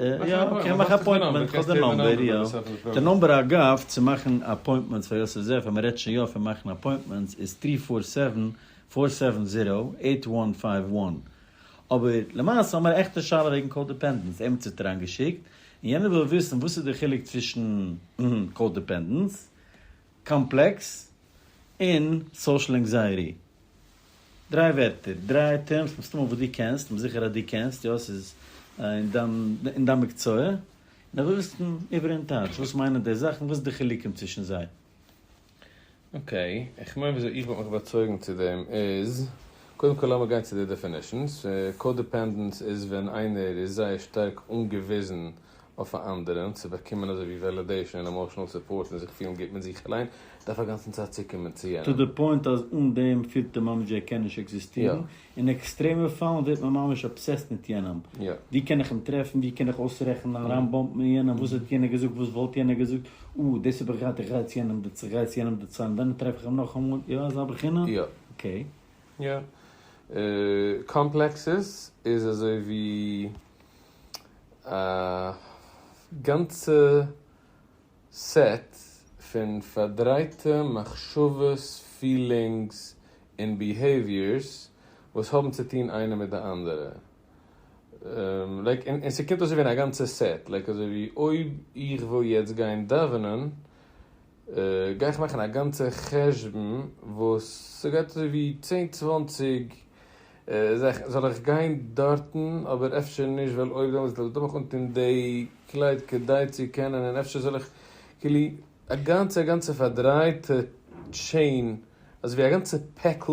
יא אקעי מאך א אפוינטמענט איך האב די נאמבער יא די נאמבער אגב צו מאכן אפוינטמענטס פאר יוסף זעף ווען מען רעדט שוין יא פון מאכן אפוינטמענטס איז טרי פאר סעווען פאר סעווען זירא עיט וואן פייוו וואן אבער למעשה האמער א עכטע שאלה וועגן קאודעפענדענס עמיצער האט אריינגעשיקט און יענער וויל וויסן וואס איז די חילוק צווישן קאודעפענדענס קאמפלעקס און סאושעל ענקזייעטי. דריי ווערטער, דריי טערמס מסתמא וואס דו קענסט, כ'בין זיכער אז דו קענסט, יא ס'איז אין דיין אין דיין מקצוע, און איך וויל וויסן איבער אין טייטש, וואס מיינען די זאכן, וואס איז די חילוקים צווישן זיי. אקעי, איך מיין וויאזוי איך וואלט מיך באצויגן צו דעם איז, קודם כל לאמיר גיין צו די דעפינישאנס, קא-דיפענדענס איז ווען איינער איז זייער שטארק אנגעוויזן אויף א אנדערען צו באקומען אזוי ווי וועלידעישאן און עמאשענעל סופארט און זיך פילן גוט מיט זיך אליין דארף אגאנצן צייט צוקומען צו יענעם. טו די פוינט אז אן דעם פילט ער ממש ווי ער קען נישט עקזיסטירן, אין עקסטרעמע פאלן ווערט מען ממש אבסעסט מיט יענעם, ווי קען איך אים טרעפן, ווי קען איך אויסרעכענען אריינבאמפן אין יענעם, וואס האט יענער געזאגט, וואס וואלט יענער געזאגט, אה דאס האב איך געהאט, איך גיי צו יענעם דערצו, איך גיי צו יענעם דערצו, און דאן טרעף איך אים נאכאמאל, יא אזא בחינה? אקעי. יא. קאמפלעקסעס איז אזוי ווי. א גאנצע סעט פון פארדרייטע מחשבות, פילינגס, און ביהעיוויערס וואס האבן צו טון איינע מיט די אנדערע, לייק, און ס'קומט אויס צו ווערן א גאנצע סעט, לייק אזוי ווי אויב איך וויל יעצט גיין דאווענען, גיי איך מאכן א גאנצע חשבון וואס ס'גייט אזוי ווי צען צוואנציג זאכן זאל איך גיין דארטן אבער אפשר נישט ווייל אויב דעמאלטס וועל איך דאך אנטון דעי קלייד כדי צו קענען און אפשר זאל איך כאילו א גאנצע א גאנצע פארדרייטע טשעין אזוי ווי א גאנצע פעקל.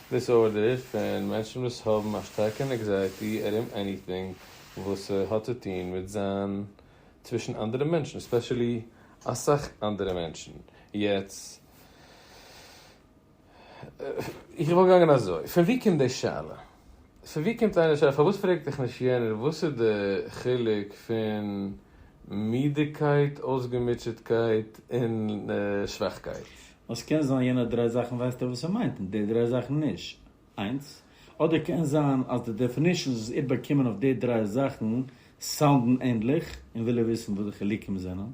דיסארדער פון מענטשן וואס האבן א שטארקע ענקזייעטי ארום עניטינג וואס ס'האט צו טון מיט זיין צווישן אנדערע מענטשן, ספעשעלי אסאך אנדערע מענטשן, יעצט איך וואלט געגאנגען אזוי, פון ווי קומט די שאלה? פון ווי קומט איינער שאלה פארוואס פרעגט דיך נישט יענער וואס איז די חילוק פון מידעקייט, אויסגעמוטשעטקייט און שוואכקייט? עס קען זיין יענע דריי זאכן ווייסט ער וואס ער מיינט און די דריי זאכן נישט, איינס. אדער קען זיין אז די דעפינישאנס וואס איר באקומען אויף די דריי זאכן סאונדן ענדליך און וויל ער וויסן וואס די חילוקים זענען.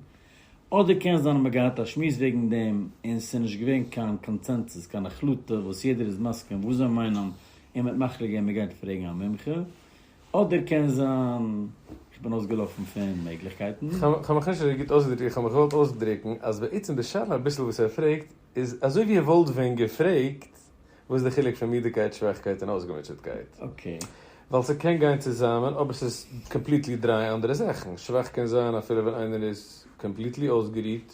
אדער קען זיין אז מען האט געהאט א שמועס וועגן דעם און ס'איז נישט געווען קיין קאנצענסוס, קיין החלטה וואס יעדער איז מסכים וואס זיי מיינען און מען האט מחליט געווען מען גייט פרעגן א מומחה. אדער קען זיין איך בין אויסגעלאפן פון מעגליכקייטן. כ'האב מיך נישט אזוי גוט אויסגעדריקט איך האב מיך געוואלט אויסדריקן אז בעצם די שאלה אביסל וואס ער פרעגט איז אזוי ווי ער וואלט ווען געפרעגט וואס איז די חילוק פון מידעקייט שוואכקייט און אויסגעמוטשעטקייט ווייל ס'קען גיין צוזאמען אבער ס'איז קאמפליטלי דריי אנדערע זאכן שוואך קען זיין אפילו ווען איינער איז קאמפליטלי אויסגערוהט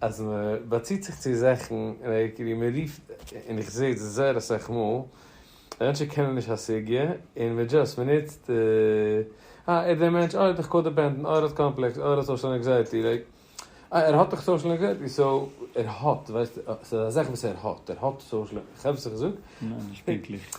אז מען באציט זיך צו זאכן ווי מען רופט און איך זע דאס זייער אסאך מאל אז מענטשן קענען נישט א סוגיא און מען דזשאסט מען נוצט אה ער איז דער מענטש אה ער איז דאך קא-דיפענדענט אה ער האט קאמפלעקס אה ער האט סאושעל ענקזייעטי לייק אה ער האט דאך סאושעל ענקזייעטי סאו ער האט ווייסט ס'איז א זאך וואס ער האט ער האט סאושעל איך האף איך זאג. ניין נישט פונקטליך.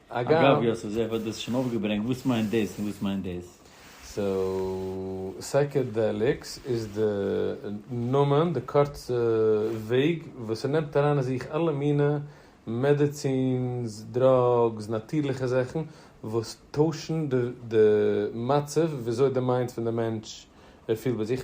אגב יוסף זאב האט דאס שוין אויפגעברענגט וואס מיינט דאס און וואס מיינט דאס. סאו סייקעדעליקס איז די נאמען, די קורצע וועג וואס ער נעמט אריין אין זיך אלע מינע מעדעצינס, דראגס, נאטירליכע זאכן וואס טוישן די מצב וויאזוי די מיינד פון די מענטש פילט ביי זיך,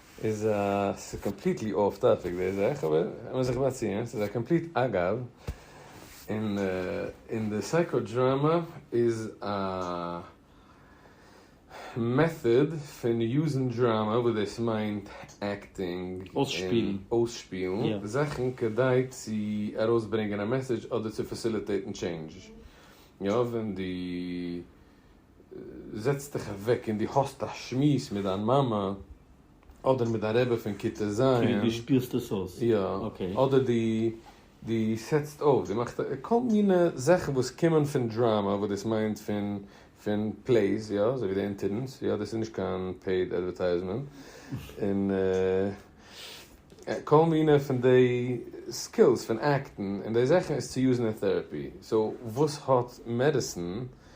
איז א ס'איז קאמפליטלי אף טאפיק די זאך אבער לאמיר זיך באציען ס'איז א קאמפליט אגב און און די סייקא דראמא איז א מעטאד פון יוזן דראמא וואס דאס מיינט עקטינג און אויסשפילן זאכן כדי צו ארויסברענגען א מעסעדזש אדער צו פעסיליטעיטן טשעינדזש יא ווען די. זעץ דיך אוועק און דו האסט א שמועס מיט דיין מאמע אדער מיט דיין רבי פון כיתה ז', כאילו דו שפירסט עס אויס, יא, אקעי. אדער דו דו סעטסט אויף, דו מאכסט כל מיני זאכן וואס קומען פון דראמא וואס דאס מיינט פון פון פלעיס, יא, אזוי ווי די אינטערנס, יא, דאס איז נישט קיין פעיד אדווערטייזמענט, און כל מיני פון די סקילס פון עקטן און די זאכן איז צו יוזן אין טעראפי, סאו וואס האט מעדיסאן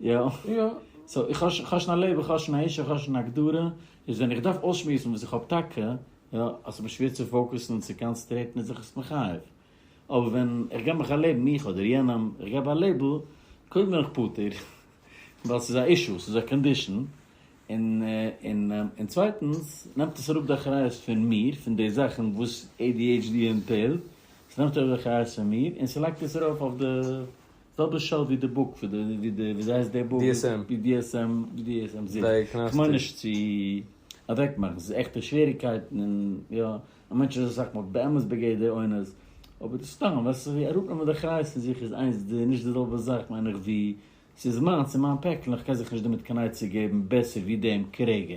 יא? יא. סאו איך האב שוין א לעבן, איך האב שוין א אישו, איך האב שוין א הגדרה, איז ווען איך דארף אויסשמועסן וואס איך האב טאקע, יא, אז ס'איז מיר שווער צו פאוקוסן און צו קאנצעטרעטן איז איך עס מחייב. אבער ווען איך געב מיך א לעבן, מיך אדער יענעם, איך געב א לעיבל, קודם בין איך פטור, ווייל ס'איז א אישו, ס'איז א קאנדישאן, און און צווייטנס, נעמט עס אראפ די אחריות פון מיר, פון די זאכן וואס adhd ענטהעלט, ס'נעמט אראפ די אחריות פון מיר, און ס'לייגט עס ארויף אויף די. זעלבע שאו ווי די בוק ווי די ווי די וויאזוי הייסט די בוק BDSM BDSM זיס כ'מיין נישט צו אוועק מאכן ס'איז עכטע שוועריקייטן און יא א מענטש איז אסאך מאל באמת בגדר אונס אבער דאס סתם וועסט ווי אראפנעמען די אחריות פון זיך איז איינס די נישט די זעלבע זאך מיין איך ווי ס'איז מיינס און מיין פעקל און כ'קען זיך נישט דערמיט קיין עצה געבן בעסער ווי דעם כרגע.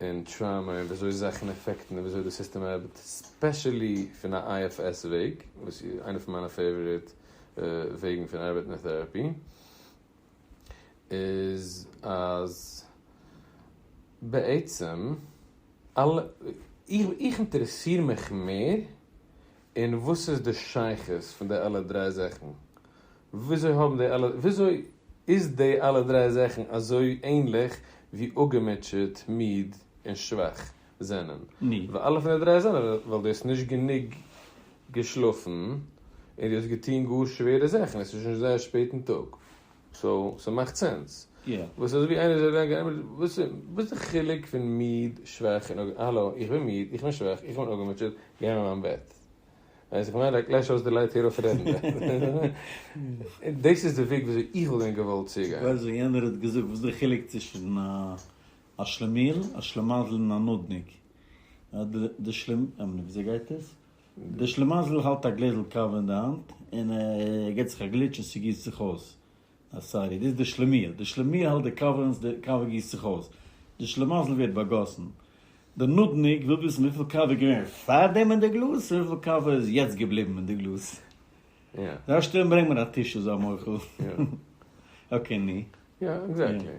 און טראומא און וויאזוי זאכן אפעקטן און וויאזוי די סיסטעם ארבעט ספעשעלי פון א IFS וועג וואס איז איינע פון מיינע פעיוואריט וועגן פון ארבעטן אין טעראפי איז אז בעצם אלע איך אינטערעסיר מיך מער אין וואס איז די שייכות פון די אלע דריי זאכן וויאזוי האבן די אלע וויאזוי איז די אלע דריי זאכן אזוי ענליך ווי אפגעמוטשעט, מיד, און שוואך זענען? ני. ווייל אלע פון די דריי זענען ווייל דו האסט נישט גענוג געשלאפן און דו האסט געטון גאר שווערע זאכן, עס איז שוין זייער שפעט אין טאג, סאו ס'מאכט סענס. יא. וואס אזויווי איינער זאל גיין גע'עמערדזשענט וואס וואס איז די חילוק פון מיד, שוואך, און אפגעמוטשעט? האלא, איך בין מיד, איך בין שוואך, איך בין אפגעמוטשעט, גיי אין מיין בעט. ווען איך זאג פאר איינער קלעש אויס די לייט הער אויף רעדן דערפון. דאס איז די וועג ווי אזוי איך וואלט ווען געוואלט צוגיין. איך ווייס ווען יענער האט געזאגט וואס איז די חילוק צווישן א שלעמיל, א שלעמאזל און א נודניק. די שלעמ. אמער נישט וויאזוי גייט עס? די שלעמאזל האלט א גלעזל קאווע אין די האנט און ער געט זיך א גליטש און ס'גיסט זיך אויס. אה סארי, דאס איז די שלומיאל. די שלומיאל האלט די קאווע און די קאווע גיסט זיך אויס. די שלמזל ווערט באגאסן. די נודניק וויל וויסן וויפיל קאווע איז געווען פארדעם אין די גלאז און וויפיל קאווע איז יעצט געבליבן אין די גלאז. זיי שטערן ברענג מיר א טישו זיי מוחל. אקעי ני. יא עקזעקטלי.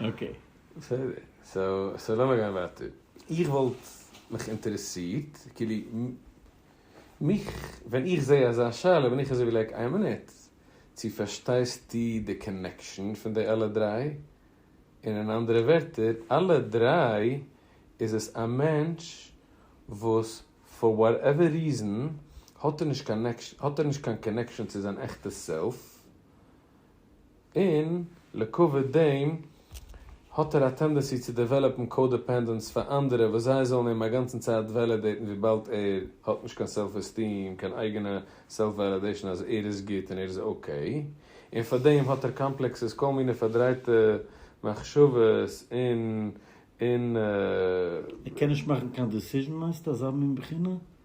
אקעי. בסדר. סאו לאמיר גיין ווייטער. איך וואלט מיך אינטערעסירט, כאילו, מיך, ווען איך זע אזא שאלה בין איך אזוי ווי לייק, איין מינוט, צו פארשטייסטו די קאנעקשאן פון די אלע דריי? און אין אנדערע ווערטער, אלע דריי איז עס א מענטש וואס פאר וואטעווער ריזאן האט ער נישט קיין קאנעקשאן צו זיין עכטע סעלף, און לעקאוויט דעם האט ער א טענדענסי צו דעוועלאפן קאודעפענדענס פאר אנדערע וואס זיי זאלן אים א גאנצן צייט וועלידעיטן וויבאלד ער האט נישט קיין סעלף עסטיעם קיין אייגענע סעלף וועלידעישן אז ער איז גוט און ער איז אקעי און פאר דעם האט ער קאמפלעקסעס כל מיני פארדרייטע מחשבות און און ער קען נישט מאכן קיין דעסיזשן מיינסטו אזא מין בחינה?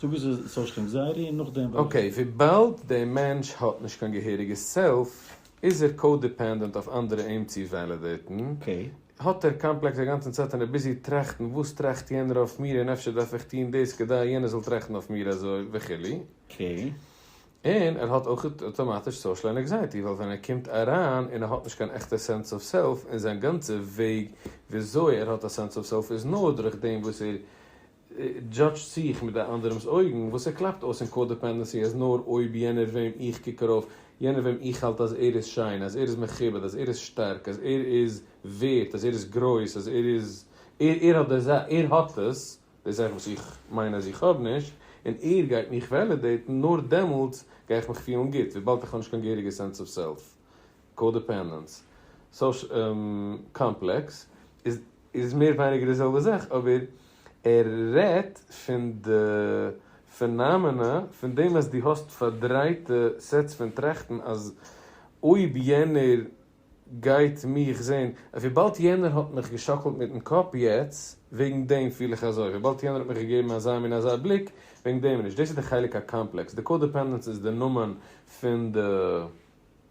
זאג עס איז סאושל ענקזייעטי און נאכדעם וועל איך. אקעי, וויבאלד דער מענטש האט נישט קיין געהעריגע סעלף, איז ער קא-דיפענדענט אויף אנדערע אים צו וועלידעיטן, האט ער קאמפלעקס א גאנצן צייט און איז ביזי טראכטן וואס טראכט יענער אויף מיר און אפשר דארף איך טון דאס כדי יענער זאל טראכטן אויף מיר אזוי וכו', און ער האט אויך אטאמאטיש סאושל ענקזייעטי ווייל ווען ער קומט אריין און ער האט נישט קיין עכטע סענס אוו סעלף און זיין גאנצע וועג וויאזוי ער האט א סענס אוו סעלף איז נאר דורך דעם וואס ער דזשאדזשט זיך מיט דער אנדערעמס אויגן, וואס ער קלאפט אויס אין קא-דעפענדענסי אז נאר אויב יענער וועם איך קוק ארויף, יענער וועם איך האלט אז ער איז שיין, אז ער איז מכובד, אז ער איז שטארק, אז ער איז ווערט, אז ער איז גרויס, אז ער איז, ער, ער האט די זא, ער האט עס, די זאך וואס איך מיין אז איך האב נישט, און ער גייט מיך וועלידעיטן, נאר דעמאלטס גיי איך מיך פילן גוט, וויבאלד איך האב נישט קיין געהעריגע סענס אוו סעלף. קאדעפענדענס קאמפלעקס איז מער ווייניגער די זעלבע זאך אבער ער רעדט פון די פענאמענע פון דעם אז דו האסט פארדרייטע סעטס פון טראכטן אז אויב יענער גייט מיך זען וויבאלד יענער האט מיך געשאקלט מיטן קאפ יעצט וועגן דעם פיל איך אזוי וויבאלד יענער האט מיך געגעבן אזא מין אזא בליק וועגן דעם נישט דאס איז די חלק הקאמפלעקס די קאדעפענדענס איז די נאמען פון די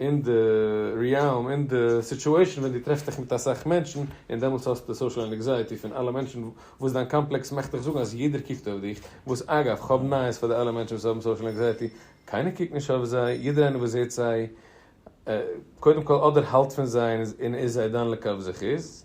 אין די ריעלם, אין די סיטועשן ווען דו טרעפסט דיך מיט אסאך מענטשן, און דעמאלטס האסטו די סאושעל ענעקזייעטי פון אלע מענטשן, וואס דיין קאמפלעקס מאכט דיך זאגן אז יעדער קוקט אויף דיך, וואס אגב, כ'האב נייעס פאר די אלע מענטשן וואס האבן סאושעל ענקזייעטי, קיינער קוקט נישט אויף זיי, יעדער איינער וואס זעט זיי, קודם כל אדער האלט פון זיי און איז זיי דן לכף זכות,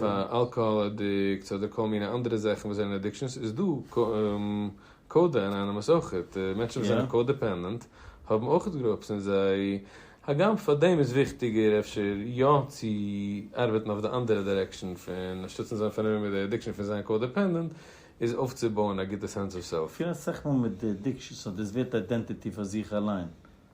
פאר אלקאהאל אדיקטס אדער כל מיני אנדערע זאכן וואס זענען אדיקשאנס איז דא קאודע אנאנימוס אויכעט, מענטשן וואס זענען קאודעפענדענט האבן אויכעט גרופס אין זיי, הגם פאר דעם איז וויכטיגער אפשר יא צו ארבעטן אויף די אנדערע דירעקשאן פון אנשטאט'ן זיין פארנומען מיט די אדיקשאן פון זיין קאודעפענדענט איז אויפצובויען א גוטע סענס אוו סעלף. כ'פיר אסאך מאל מיט די אדיקשאנס אדער עס ווערט איידענטיטי פאר זיך אליין.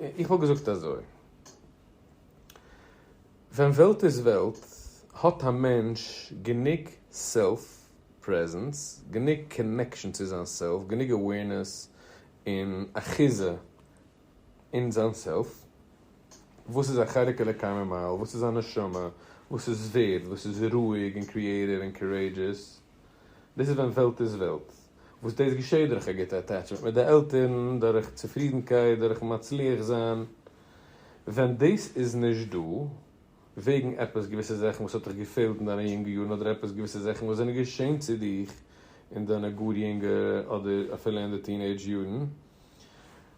איך וואלט געזאגט אזוי, ווען וועלט איז וועלט האט א מענטש גענוג סעלף פרעזענס, גענוג קאנעקשאן צו זיין סעלף, גענוג אוועירנעס און אחיזה אין זיין סעלף, וואס איז א חלק אלוקי ממעל, וואס איז א נשמה, וואס איז ווערד, וואס איז רואיג און קריעטיוו און קארעידזשעס, דאס איז ווען וועלט איז וועלט. וואס דאס געשעט דורך א גוטע אטעטשמענט מיט די עלטערן, דורך צופרידנקייט, דורכ'ן מצליח זיין. ווען דאס איז נישט דא, וועגן עפעס געוויסע זאכן וואס האט דיך געפעלט אין דיינע יונגע יארן אדער עפעס געוויסע זאכן וואס זענען געשען צו דיך אין דיינע גאר יונגע אדער אפילו אין די טינעידזש יארן,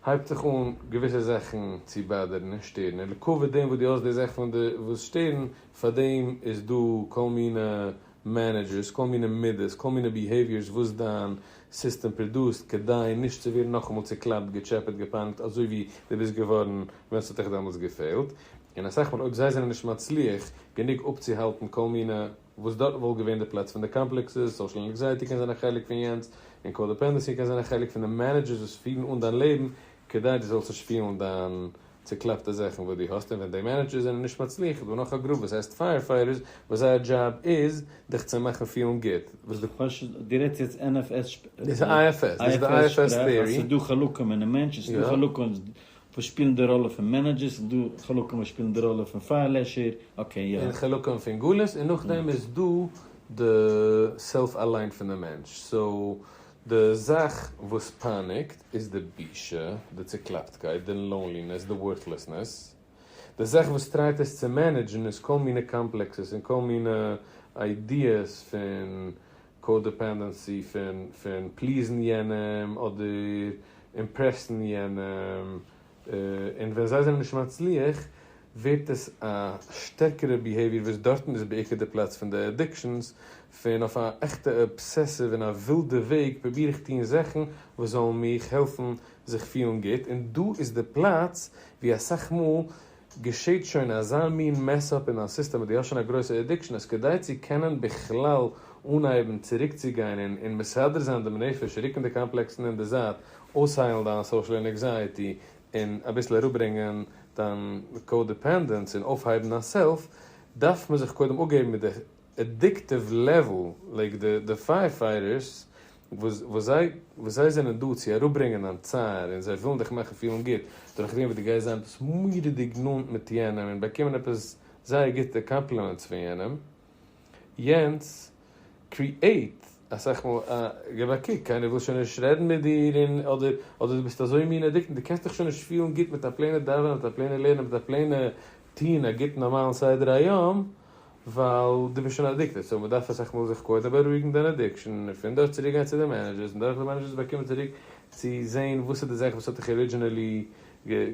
הייבט זיך אן געוויסע זאכן צו באדערן און שטערן, און לעקאוויט דעם וואס דו האסט די זאכן פון די וואס שטערן, פאר דעם איז דא כל מיני מענעדזשערס, כל מיני מידות, כל מיני ביהעיוויערס וואס דיין סיסטעם פראדוסט כדי נישט צו ווערן נאכאמאל צוקלאפט, געטשעפעט, געפאנגט אזוי ווי דו ביסט געווארן ווען ס'האט דיך דעמאלטס געפעלט, און אסאך מאל אויב זיי זענען נישט מצליח גענוג אפצוהאלטן כל מיני. וואס דארטן וואלט געווען די פלעץ פון די קאמפלעקסעס, סאושעל ענקזייעטי קען זיין א חלק פון יענץ, און קאדעפענדעסי קען זיין א חלק פון די מענעדזשערס וואס פירן אן דיין לעבן כדי דו זאלסט נישט שפילן דיין צוקלעפטע זאכן וואס דו האסט, און ווען די מענעדזשערס זענען נישט מצליח איז דא נאך א גרופ וואס הייסט פייער פייטערס וואס זייער דזשאב איז דיך צו מאכן פילן גוט, וואס די. דו רעדסט יעצט NFS שפראך? דאס איז IFS, דאס איז די IFS טעארי. אז ס'איז דא חלקים אינעם מענטש, און ס'איז דא חלקים וואס שפילן די ראלע פון מענעדזשערס, און דא חלקים וואס שפילן די ראלע פון פייערלעשער, אקעי יא. און חלקים פון גלות, און נאכדעם איז דא די סעלף אליין פון די מענטש, סאו די זאך וואס פייניגט איז די בושה, די צוקלאפטקייט, די לאונלינעס, די ווארטלעסנעס, די זאך וואס טרייט עס צו מענעדזשן איז כל מיני קאמפלעקסעס און כל מיני איידיעס פון קא-דעפענדענסי פון פליזן יענעם אדער אימפרעסן יענעם, און ווען זיי זענען נישט מצליח ווערט עס א שטערקערע ביהעיוויער וואס דארטן איז בעיקר די פלאץ פון די עדיקשאנס, פון אויף א עכטע אבסעסיוו און א ווילדע וועג פרוביר איך טון זאכן וואס זאלן מיך העלפן זיך פילן גוט, און דא איז די פלאץ ווי אסאך מאל. געשעהט שוין אזא מין מעס אפ אין א סיסטעם וואס דו האסט שוין א גרויסע עדיקשאן אז כדי צו קענען בכלל אנהייבן צוריקצוגיין און און מסדר זיין דעם נפש רוקן די קאמפלעקסן אין די זייט אויסהיילן דיין סאושעל ענעקזייעטי און אביסל אראפברענגען דיין קאודעפענדענס און אויפהייבן דיין סעלף דארף מען זיך קודם אפגעבן מיט די עדיקטיוו לעוועל לייק די די פייער פייטערס וואס וואס זיי וואס זיי זענען דא צו אראפברענגען דיין צער און זיי ווילן דיך מאכן פילן גוט דורך דעם וואס דו גייסט זיין עפעס מורא'דיג נאנט מיט יענעם און באקומען עפעס זייער גוטע קאמפלימענטס פון יענעם יענץ קריעט אסאך מאל א געב א קוק קיינער וויל שוין נישט רעדן מיט דיר און אדער אדער דו ביסט אזוי מין עדיקטעד דו קענסט דיך שוין נישט פילן גוט מיט א פלעינע דאווענען מיט א פלעינע לערנען מיט א פלעינע טון א גוטן נארמאלן סדר היום. ווייל דו ביסט שוין אדיקטעד סאו מ'דארף אסאך מאל זיך קודם בארואיגן דיין אדיקשאן און פון דארט צוריק גיין צו די מענעדזשערס און דורך די מענעדזשערס באקומען צוריק צו זעהן וואס איז די זאך וואס האט דיך ארידזשינעלי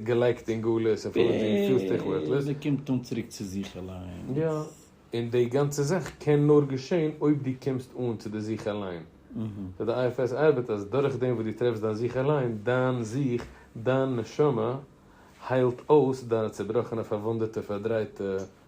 געלייגט אין גלות און פארוואס דו פילסט דיך ווערטלאז. און ס'קומט אן צוריק צו זיך אליינס. יא, און די גאנצע זאך קען נאר געשעהן אויב דו קומסט אן צו די זיך אליין. סאו די IFS ארבעט אז דורך דעם וואס דו טרעפסט דיין זיך אליין, דיין זיך, דיין נשמה, היילט אויס דיינע צובראכענע פארוואונדעטע פארדרייטע.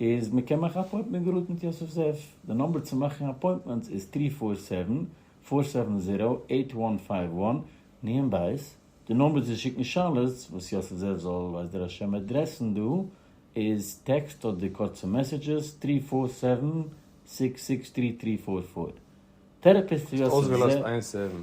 איז מען קען מאכן א אפוינטמענט געראד מיט יוסף זאב, די נאמבער צו מאכן אפוינטמענטס איז טרי פאר סעווען, פאר סעווען זירא, עיט וואן פייוו וואן, ניהן בית, די נאמבער צו שיקן שאלות וואס יוסף זאב זאל ווייס דער השם עדרעסן דא איז טעקסט אדער קורצע מעסעדזשעס טרי פאר סעווען, סיקס סיקס טרי טרי פאר פאר. טערעפיסט יוסף זאב. אויסגעלאזט איין סעווען.